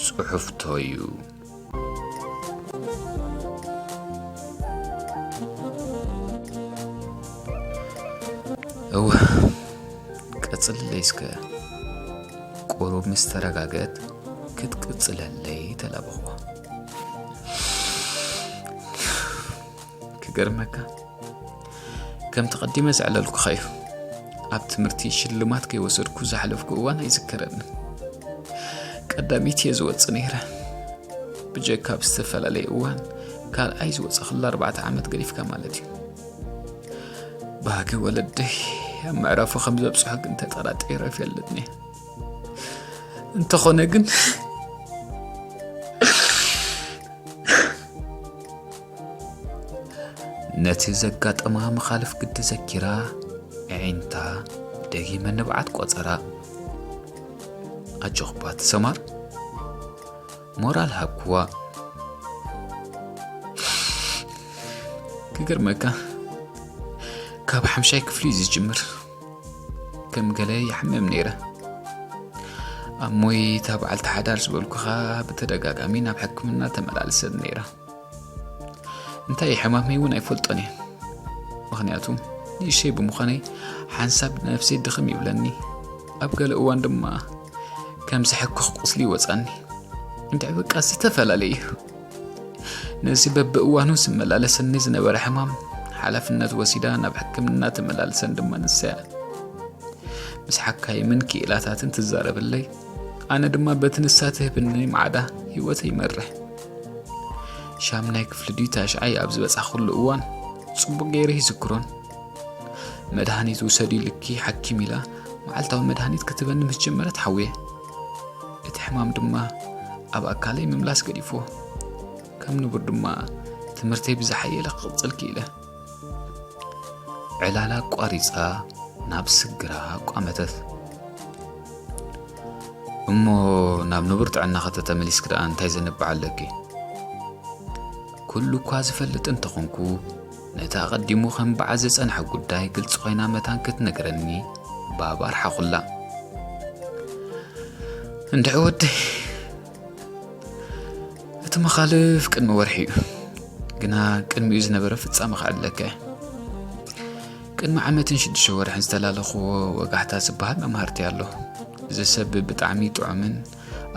ጽሑፍቶዩ እወ ቀጽልለይ እስከ ቁሩብ ምስ ተረጋገት ክትቅጽለለይ ተላበኹዋ። ክገርመካ ከም ተቐዲመ ዘዕለልኩኻ እዩ ኣብ ትምህርቲ ሽልማት ከይወሰድኩ ዝሓለፍኩ እዋን ኣይዝከረኒ ቀዳሚት እየ ዝወፅእ ነይረ ብጀካ ኣብ ዝተፈላለየ እዋን ካልኣይ ዝወፀኽላ ኣርባዕተ ዓመት ገዲፍካ ማለት እዩ ባህጊ ወለደይ ኣብ መዕረፉ ከም ዘብፅሖ ግን ተጠራጢረ ይፈልጥኒ እንተኾነ ግን ነቲ ዘጋጠማ መኻልፍ ግዲ ዘኪራ ዕዒንታ ደጊመ ንብዓት ቆፀራ ኣጆኽባ ትሰማር ሞራል ሃብክዋ ክገርመካ ካብ ሓምሻይ ክፍሊ እዩ ዝጅምር ከም ገለ ይሓምም ነይረ ኣብ ሞይታ በዓልቲ ሓዳር ዝበልኩኻ ብተደጋጋሚ ናብ ሕክምና ተመላልሰት ነይረ እንታይ ሕማመይ እውን ኣይፈልጦን እየ ምክንያቱ ንእሸይ ብምዃነይ ሓንሳብ ነፍሰይ ድኽም ይብለኒ ኣብ ገለ እዋን ድማ ከም ዝሕክኽ ቁስሊ ይወፃኒ እንታይ በቃ ዝተፈላለዩ እዩ ነዚ በብእዋኑ ዝመላለሰኒ ዝነበረ ሕማም ሓላፍነት ወሲዳ ናብ ሕክምና ተመላልሰን ድማ ንሰያ ምስ ሓካይምን ክኢላታትን ትዛረብለይ ኣነ ድማ በቲ ንሳ ትህብኒ ማዕዳ ህይወት ይመርሕ ሻምናይ ክፍሊ ድዩ ታሽዓይ ኣብ ዝበጻሕኩሉ እዋን ጽቡቕ ገይረ ይዝክሮን መድሃኒት ውሰድ ኢልኪ ሓኪም ኢላ መዓልታዊ መድሃኒት ክትበኒ ምስ ጀመረት ሓውየ እቲ ሕማም ድማ ኣብ ኣካለይ ምምላስ ገዲፎ ከም ንቡር ድማ ትምህርተይ ብዝሓየለ ክቕጽል ክኢለ ዕላል ኣቋሪጻ ናብ ስግራ ኣቋመተት እሞ ናብ ንቡር ጥዕና ከተተመሊስክ ደኣ እንታይ ዘንብዕ ኣለኪ ኩሉ እኳ ዝፈልጥ እንተኾንኩ ነቲ ኣቐዲሙ ከም በዓል ዝጸንሐ ጉዳይ ግልፂ ኮይና መታን ክትነግረኒ ባብ ኣርሓኹላ እንድዒ ወደይ እቲ መኻልፍ ቅድሚ ወርሒ እዩ ግና ቅድሚኡ ዝነበረ ፍጻመ ክዕለካ እየ ቅድሚ ዓመትን ሽዱሽተ ወርሕን ዝተላለኽዎ ወጋሕታ ዝበሃል መምሃርቲ ኣሎ እዚ ሰብ ብጣዕሚ ጥዑምን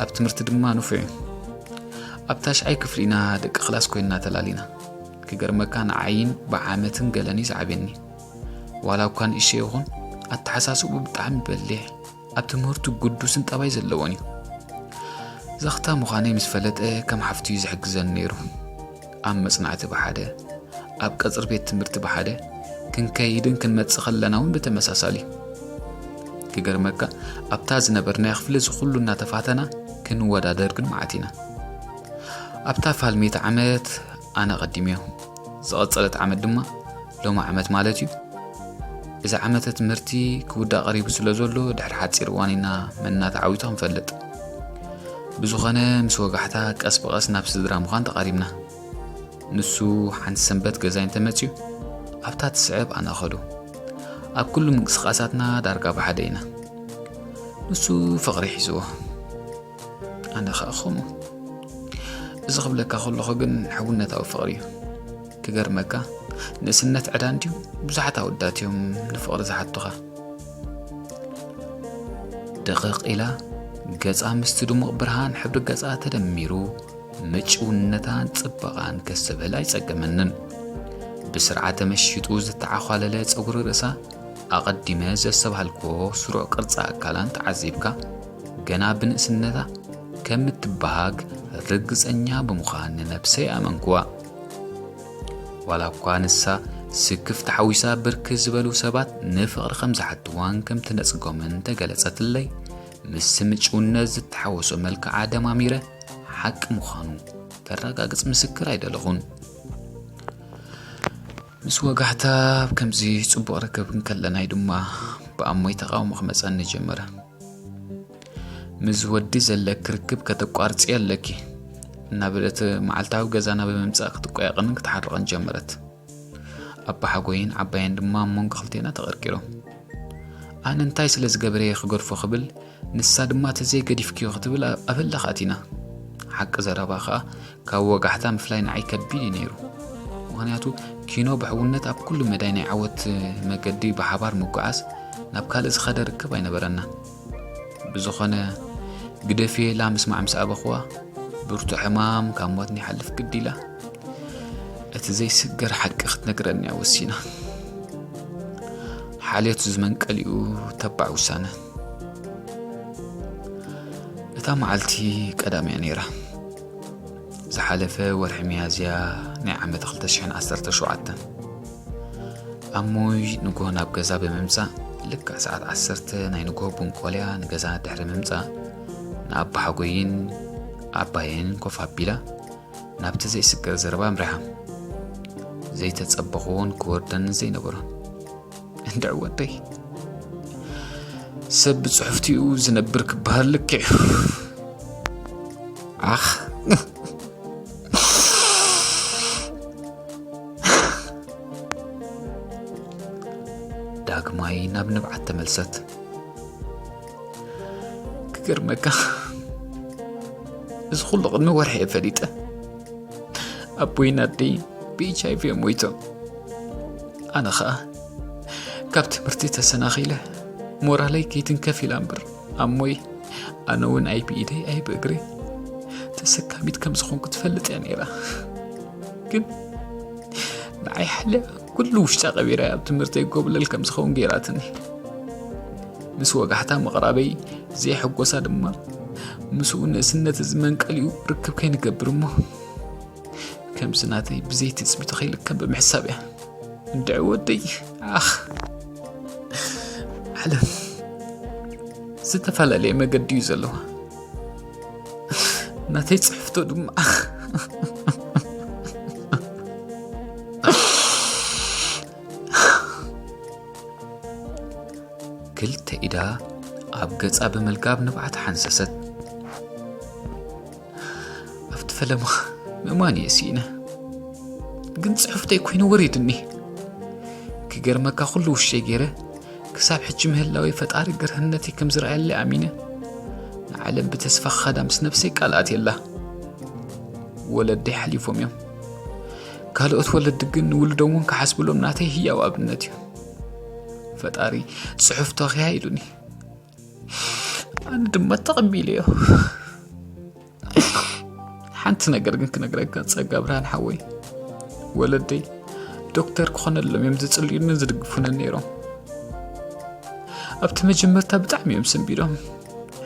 ኣብ ትምህርቲ ድማ ንፉዕ እዩ ኣብ ታሽዓይ ክፍሊ ኢና ደቂ ክላስ ኮይንና ተላሊና ክገርመካ ንዓይን ብዓመትን ገለን እዩ ዝዓብየኒ ዋላ እኳ ንእሸ ይኹን ኣተሓሳስቡ ብጣዕሚ በሊሕ ኣብ ትምህርቱ ግዱስን ጠባይ ዘለዎን እዩ። ዛኽታ ምዃነይ ምስ ፈለጠ ከም ሓፍቱዩ ዝሕግዘኒ ነይሩ። ኣብ መጽናዕቲ ብሓደ፣ ኣብ ቀጽሪ ቤት ትምህርቲ ብሓደ ክንከይድን ክንመጽእ ከለና እውን ብተመሳሳሊ ክገርመካ ኣብታ ዝነበርናዮ ክፍሊ እዚ ኩሉ እናተፋተና ክንወዳደር ግን መዓት ኢና ኣብታ ፋልሜት ዓመት ኣነ ቀዲምዮ ዝቐጸለት ዓመት ድማ ሎሚ ዓመት ማለት እዩ እዚ ዓመተ ትምህርቲ ክውዳእ ቀሪቡ ስለ ዘሎ ድሕሪ ሓፂር እዋን ኢና መና ተዓዊቱ ክንፈልጥ ብዝኾነ ምስ ወጋሕታ ቀስ ብቐስ ናብ ስድራ ምዃን ተቓሪብና ንሱ ሓንቲ ሰንበት ገዛይ እንተመፅዩ ኣብታ ትስዕብ ኣነ ኸዱ ኣብ ኩሉ ምንቅስቓሳትና ዳርጋ ብሓደ ኢና ንሱ ፍቕሪ ሒዝዎ ኣነ ኸኣ ከምኡ እዚ ክብለካ ከለኹ ግን ሕውነታዊ ፍቕሪ እዩ ክገርመካ ንእስነት ዕዳ እንድዩ ብዙሓት ኣወዳት እዮም ንፍቕሪ ዝሓቱኻ ድቕቕ ኢላ ገጻ ምስቲ ድሙቕ ብርሃን ሕብሪ ገጻ ተደሚሩ ምጭውነታን ጽበቓን ከስብህል ኣይጸገመንን ብስርዓተ መሽጡ ዝተዓዃለለ ጸጉሪ ርእሳ ኣቐዲመ ዘሰብሃልክዎ ስሩዕ ቅርጻ ኣካላን ተዓዚብካ ገና ብንእስነታ ከም እትበሃግ ርግጸኛ ብምዃን ንነብሰይ ኣመንኩዋ። ዋላ እኳ ንሳ ስክፍ ተሓዊሳ ብርክ ዝበሉ ሰባት ንፍቕሪ ከም ዝሓትዋን ከም ትነጽጎምን ተገለጸትለይ ምስ ምጭውነት ዝተሓወሶ መልክዓ ደማሚረ ሓቂ ምዃኑ ከረጋግጽ ምስክር ኣይደለኹን ምስ ወጋሕታ ኣብ ከምዚ ጽቡቕ ርክብ እንከለና'ዩ ድማ ብኣሞይ ተቓውሞ ክመጸኒ ጀመረ። ምስ ወዲ ዘለኪ ርክብ ከተቋርጺ ኣለኪ እናበለት መዓልታዊ ገዛና ብምምጻእ ክትቆያቕንን ክትሓርቕን ጀመረት። ኣባሓጎይን ዓባየን ድማ ኣብ መንጎ ክልቴና ተቐርቂሮም ኣነ እንታይ ስለ ዝገበረየ ክገድፎ ክብል ንሳ ድማ ተዘይ ገዲፍክዮ ክትብል ኣብ ህላኽ ኣቲና። ሓቂ ዘረባ ከኣ ካብ ወጋሕታ ምፍላይ ንዓይ ከቢድ እዩ ነይሩ። ምክንያቱ ኪኖ ብሕውነት ኣብ ኩሉ መዳይ ናይ ዓወት መገዲ ብሓባር ምጉዓዝ ናብ ካልእ ዝኸደ ርክብ ኣይነበረና። ብዝኾነ ግደፍየ ኢላ ምስማዕ ምስ ኣበኹዋ ብርቱ ሕማም ካብ ሞት ንይሓልፍ ግዲ ኢላ እቲ ዘይስገር ሓቂ ክትነግረኒ እያ ወሲና ሓልዮት ዝመንቀሊኡ ተባዕ ውሳነ እታ መዓልቲ ቀዳም እያ ነይራ ዝሓለፈ ወርሒ መያዝያ ናይ ዓመት 217 ኣብ ሞይ ንግሆ ናብ ገዛ ብምምፃእ ልክዕ ሰዓት 1 ናይ ንግሆ ቡንቆልያ ንገዛ ድሕሪ ምምፃእ ንኣባ ሓጎይን ኣባየን ኮፍ ኣቢላ ናብቲ ዘይስገር ዘረባ ኣምሪሓ ዘይተፀበኹዎን ክወርደንን ዘይነበሮን እንድዕ ወደይ ሰብ ብፅሑፍቲኡ ዝነብር ክበሃል ልክዕ ኣኽ ዳግማይ ናብ ንብዓት ተመልሰት ክገርመካ እዚ ኩሉ ቅድሚ ወርሒ እየ ፈሊጠ ኣቦይን ኣደይ ብኤች ኣይቪ እዮም ሞይቶም ኣነ ኸኣ ካብ ትምህርቲ ተሰናኺለ ሞራለይ ከይትንከፍ ኢላ እምበር ኣሞይ ኣነ እውን ኣይ ብኢደይ ኣይ ብእግሪ ተሰካሚት ከም ዝኾንኩ ትፈልጥ እያ ነይራ ግን ንዓይ ሓልያ ኩሉ ውሽጣ ቀቢራ ኣብ ትምህርተይ ጎብለል ከም ዝኸውን ገይራትኒ ምስ ወጋሕታ ምቕራበይ ዘየሐጎሳ ድማ ምስኡ ንእስነት እዚ መንቀሊኡ ርክብ ከይንገብር እሞ ከምዚ ናተይ ብዘይ ትፅቢት ከይልከም ብምሕሳብ እያ እንድዕ ወደይ ኣኽ ዓለም ዝተፈላለየ መገዲ እዩ ዘለዋ ናተይ ፅሕፍቶ ድማ ክልተ ኢዳ ኣብ ገጻ ብምልጋብ ንብዓት ሓንሰሰት ኣብቲ ፈለማ ምእማን እየ ስኢነ ግን ጽሑፍተይ ኮይኑ ወሪድኒ ክገርመካ ኩሉ ውሸይ ገይረ ክሳብ ሕጂ ምህላዊ ፈጣሪ ግርህነተይ ከም ዝረኣየለይ ኣሚነ ንዓለም ብተስፋ ክኸዳ ምስ ነብሰይ ቃልኣት የላ ወለደይ ሓሊፎም እዮም ካልኦት ወለዲ ግን ንውልዶም እውን ክሓስብሎም ናተይ ህያው ኣብነት እዩ ፈጣሪ ፅሑፍ ተኽያ ኢሉኒ ኣነ ድማ ተቐቢለ እዮ ሓንቲ ነገር ግን ክነግረካ ፀጋ ብርሃን ሓወይ ወለደይ ዶክተር ክኾነሎም እዮም ዝፅልዩንን ዝድግፉንን ነይሮም ኣብቲ መጀመርታ ብጣዕሚ እዮም ስንቢዶም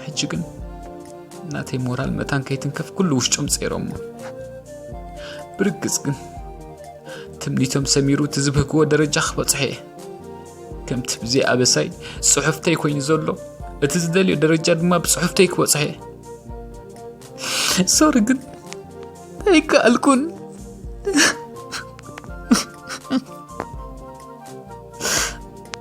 ሕጂ ግን ናተይ ሞራል መታን ከይትንከፍ ኩሉ ውሽጦም ፀይሮሞ ብርግፅ ግን ትምኒቶም ሰሚሩ እቲ ዝብህግዎ ደረጃ ክበፅሐ እየ ከምቲ ብዘይ ኣበሳይ ፅሑፍተይ ኮይኑ ዘሎ እቲ ዝደልዮ ደረጃ ድማ ብፅሑፍተይ ክበፅሐ እየ ሶሪ ግን ኣይከኣልኩን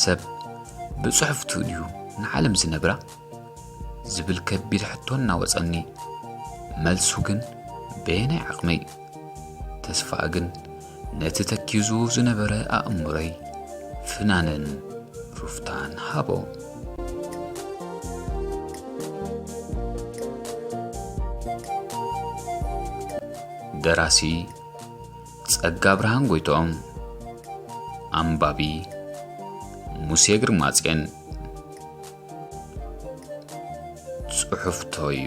ሰብ ብጽሑፍቱ ድዩ ንዓለም ዝነብራ? ዝብል ከቢድ ሕቶ እናወጸኒ፣ መልሱ ግን በየናይ ዓቕመይ? ተስፋ ግን ነቲ ተኪዙ ዝነበረ ኣእምሮይ ፍናንን ሩፍታን ሃቦ። ደራሲ ጸጋብርሃን ጎይትኦም፣ ኣንባቢ ሙሴ ግርማጼን፣ ጽሑፍቶዩ።